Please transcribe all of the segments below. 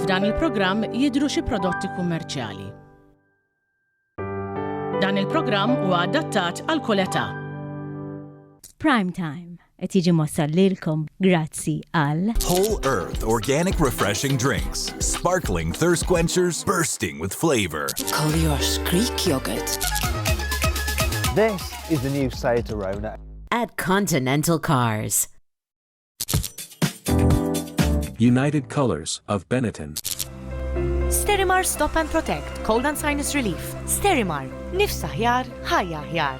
F'dan il-programm jidhru xi prodotti kummerċjali. Dan il-programm huwa adattat għal kull età. Prime Time. Qed jiġi mwassal lilkom grazzi għal. Whole Earth Organic Refreshing Drinks, sparkling thirst quenchers bursting with flavor. Collioure Greek Yogurt. This is the new Seat Arona. At Continental Cars. United Colors of Benetton. Sterimar Stop and Protect, Cold and Sinus Relief. Sterimar, nifsa ħjar, ħajja ħjar.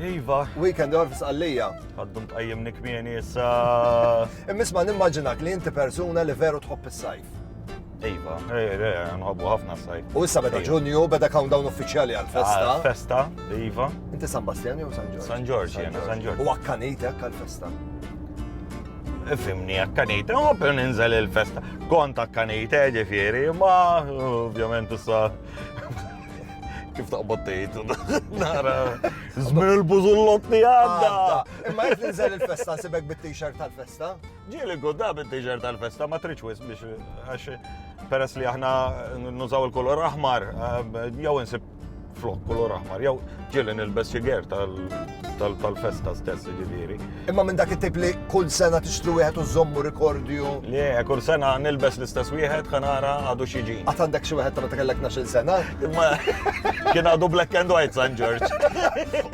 Iva. Weekend għor f'sqallija. Għaddu mqajjem nikmieni issa. Immisma nimmaġinak li inti persuna li veru tħobb is-sajf. Iva, nħobbu ħafna s-sajf. U issa beda ġunju, beda countdown uffiċjali għal-festa. Ah, festa, Iva. Inti San Bastjani u San Ġorġ? San Ġorġ, jena, San Ġorġ. U għakkanitek għal-festa. Fimni għakkanejt, u per ninżel il-festa. Kont għakkanejt, ġifiri, ma ovvjament issa Kif taqbad tgħid nara żmien il-bużullot li għadda. Imma qed ninżel il-festa sibek bit-t-shirt tal-festa. Ġieli gudda bit-t-shirt tal-festa ma tridx wis biex għax peress li aħna nużaw il-kolor aħmar eh, jew insib flok kolor aħmar jew Ġieli nilbes xi ger tal-festa stess ġifieri. Imma minn dak it-tip li kull sena tixtru wieħed u żommu rikordju. Le, kull sena nilbes l-istess wieħed ħanara għadu xi ġi. Għad għandek xi wieħed ta' meta kellek 12 sena? Imma kien għadu black and white San George.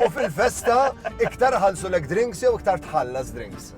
U fil-festa iktar ħalsu lek drinks jew iktar tħallas drinks?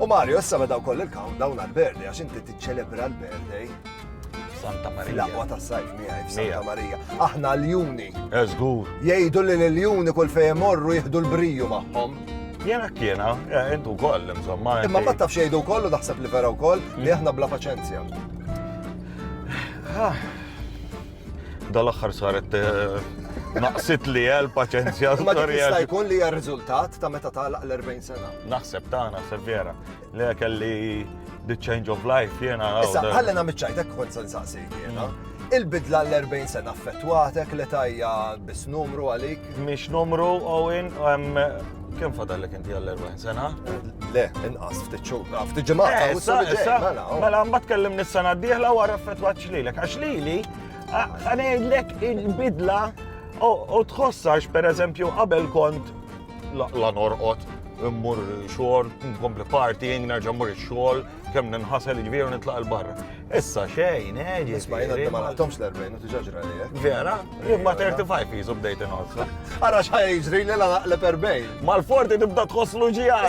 U Mario, issa beda wkoll il-countdown għal-birthday għax inti tiċċelebra l-birthday. Santa Marija. L-aqwa ta' sajf miegħi f'Santa Marija. Aħna l-juni. Eżgur. Jgħidu li l-juni kull fejn morru jieħdu l-briju magħhom. Jena kiena, eh, intu koll, insomma. Imma ma tafx jgħidu koll u daħseb li vera wkoll li aħna bla paċenzja. Ah. Dal-aħħar saret eh, naqsit li għal paċenzja. Ma jista' jkun li hija riżultat ta' meta tagħlaq l-40 sena. Naħseb ta' naħseb vera. Le kelli the change of life jena. Issa, għalli na miċċajtek kont san saqsi jena. Mm. Il-bidla l-40 sena affettwatek li tajja bis numru għalik? Mhix numru, Owen, Kem fadallek inti għall-40 sena? Le, inqas, ftit xhur, ah, ftit ġimgħat. Eh, issa, issa, mela, oh. mela mbagħad kellim nis-sena d-dieħla wara fetwat xlilek. Għax lili, għanejlek il-bidla u tħossax, per eżempju, qabel kont la norqot, immur xogħol, nkompli partying, nerġa' mmur ix-xogħol, kemm ninħasel ġvieru nitlaq il-barra. Issa xejn, eġi. Eh, Isma' jena ma naħtomx l-40 u tiġaġra li eh. Vera, imma 35 jizu bdejt inħossu. Ara xħaj jiġri li la naqleb 40. Mal-forti tibda tħosslu ġijad.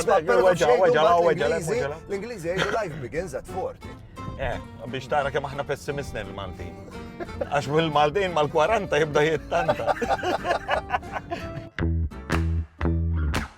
L-Ingliżi jgħidu life begins at 40. Eh, biex tara kemm aħna pessimistni l-Maltin. Għax mill-Maltin mal-40 jibda jittanta.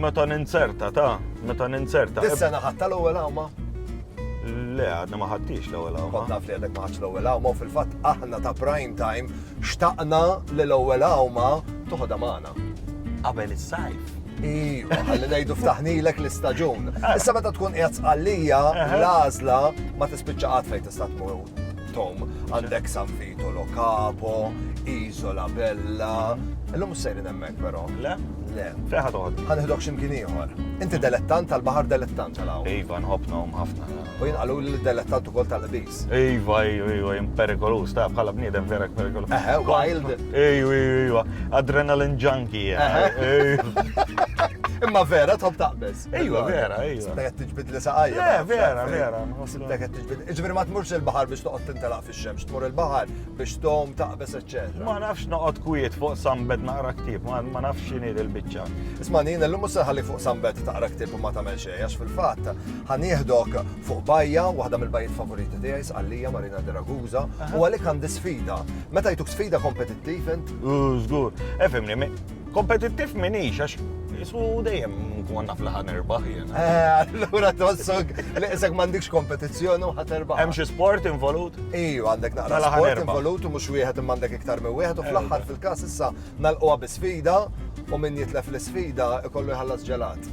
Meta ninzerta, ta' meta ninzerta. Issa naħatta l-ewwel għawma? Le, għadna ma ħaddix l-ewwel għawma. Kont naf li għadek ma ħaddx l-ewwel għawma, fil-fatt aħna ta' prime time xtaqna li l-ewwel għawma toħodha magħna. Qabel is-sajf. Iva, ħalli ngħidu ftaħnilek l-istaġun. Issa meta tkun qiegħed sqallija, l-għażla ma tispiċċa qatt fejn tista' tmur. Tom, għandek San Vito Lo Capo, Isola Bella. Illum sejrin hemmhekk però. Le? Le. Feħa toħod. Ħanħidok x'imkien ieħor. Inti delettant tal-baħar delettant tal Iva, nħobbnhom ħafna. U jinqalu li delettant ukoll tal-qbis. Iva, iva, iva, imperikolus, ta' bħala bniedem vera perikolus. Eħe, wild. Iva, iva, adrenalin junkie. Imma vera tħobb taqbeż. Ejwa, vera, ejwa. Sibtek qed tiġbid li saqajja. Le, eh, vera, vera. Sibtek qed tiġbid. Iġbir ma tmurx il-baħar biex toqgħod tintelaq fix-xemx, tmur il-baħar biex tom taqbes eċċetera. Ma nafx noqgħod kwiet fuq sambet naqra ktieb, ma nafx x'inhi il-biċċa. Isma' nien illum mhux ħalli fuq sambet taqra ktieb u ma tagħmel xejn għax fil-fatt ħanieħdok fuq bajja, waħda mill-bajjiet favoriti tiegħi sqallija Marina de Ragusa, u għalik għandi sfida. Meta jtuk sfida kompetittiv int? Żgur. Efimni, Kompetittiv minix, għax jismu dejjem nkun naf li ħan erbaħ jena. Eh, allura tossok li isek m'għandikx kompetizzjoni u ħat erbaħ. Hemm xi sport involut? Iju, għandek naqra mela sport involut u mhux wieħed imma għandek iktar minn wieħed u eh, fl-aħħar fil-każ issa nalqwa bi sfida u min jitlef l-isfida ikollu jħallas ġelat.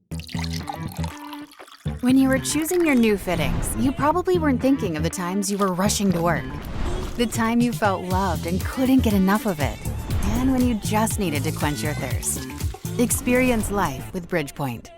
When you were choosing your new fittings, you probably weren't thinking of the times you were rushing to work, the time you felt loved and couldn't get enough of it, and when you just needed to quench your thirst. Experience life with Bridgepoint.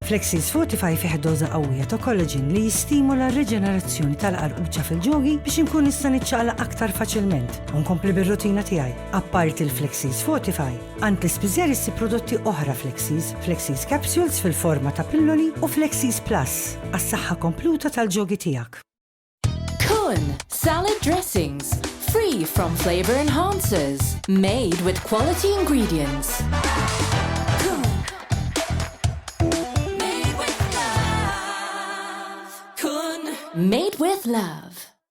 Flexis Fortify fih doza qawwija ta' collagen li jistimula r-riġenerazzjoni tal-qarquċa fil-ġogi biex inkun nista' niċċaqla aktar faċilment u nkompli bir-rutina tiegħi. Apparti l-Flexis Fortify, Għand l-ispiżer issib prodotti oħra Flexies, Flexies Capsules fil-forma ta' pilloli u Flexies Plus għas-saħħa kompluta tal-ġogi tiegħek. Kun, salad dressings, free from flavor enhancers, made with quality ingredients. Made with love.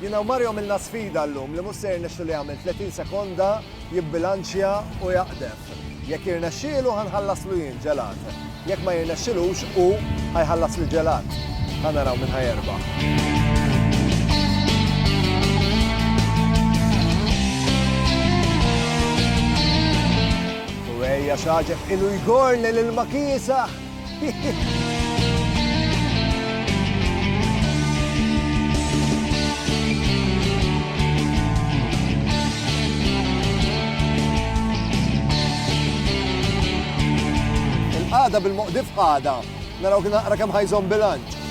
Jiena u Mario għamilna sfida llum li mhux se jirnexxu li jagħmel 30 sekonda, jibbilanċja u jaqdef. Jekk jirnexxielu ħa nħallaslu jien ġelat. Jekk ma jirnexxilux hu ħa jħallasli ġelat. Ħa naraw min ħa jerbaħ. U ejja x'għaġeb ilu jgorni lil ma kiesaħ! Il-qagħda bil-moqdif qagħda. Naraw kien naqra kemm ħajżomm bilanċ.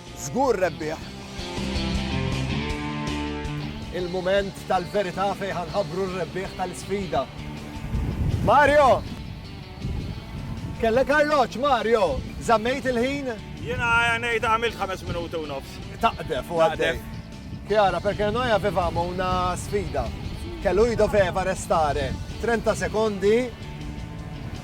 Żgur rebbieħ! Il-mument tal-verità fejn ħa nħabbru r-rebbieħ tal-isfida. Mario! Kellek arloġġ, Mario! Żammejt il-ħin? Jiena ngħid għamilt ħames minuti u nofs. Taqdef u għaddej. Chiara, perché noi avevamo una sfida che lui doveva restare 30 secondi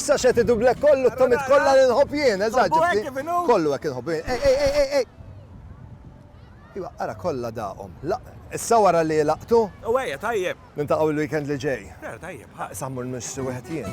Issa xed idublek kollu t-tomit kollha li nħobb jien, eżaġġi. Kollu hekk inħobb jien. Ej, ej, ej, ej. Iwa, ara kollha daqhom. Issa wara li laqtu? U ejja, tajjeb. Nintaqgħu l-weekend li ġej. Tajjeb, ħa. Sammur nissu wieħed jien.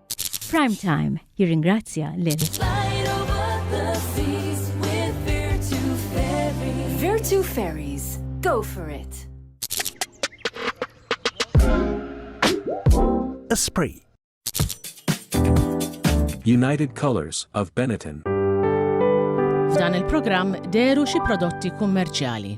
Prime Time jirringrazzja lil Virtue Fairies, go for it! Esprit United Colors of Benetton F'dan il-programm deru xi prodotti kummerċjali.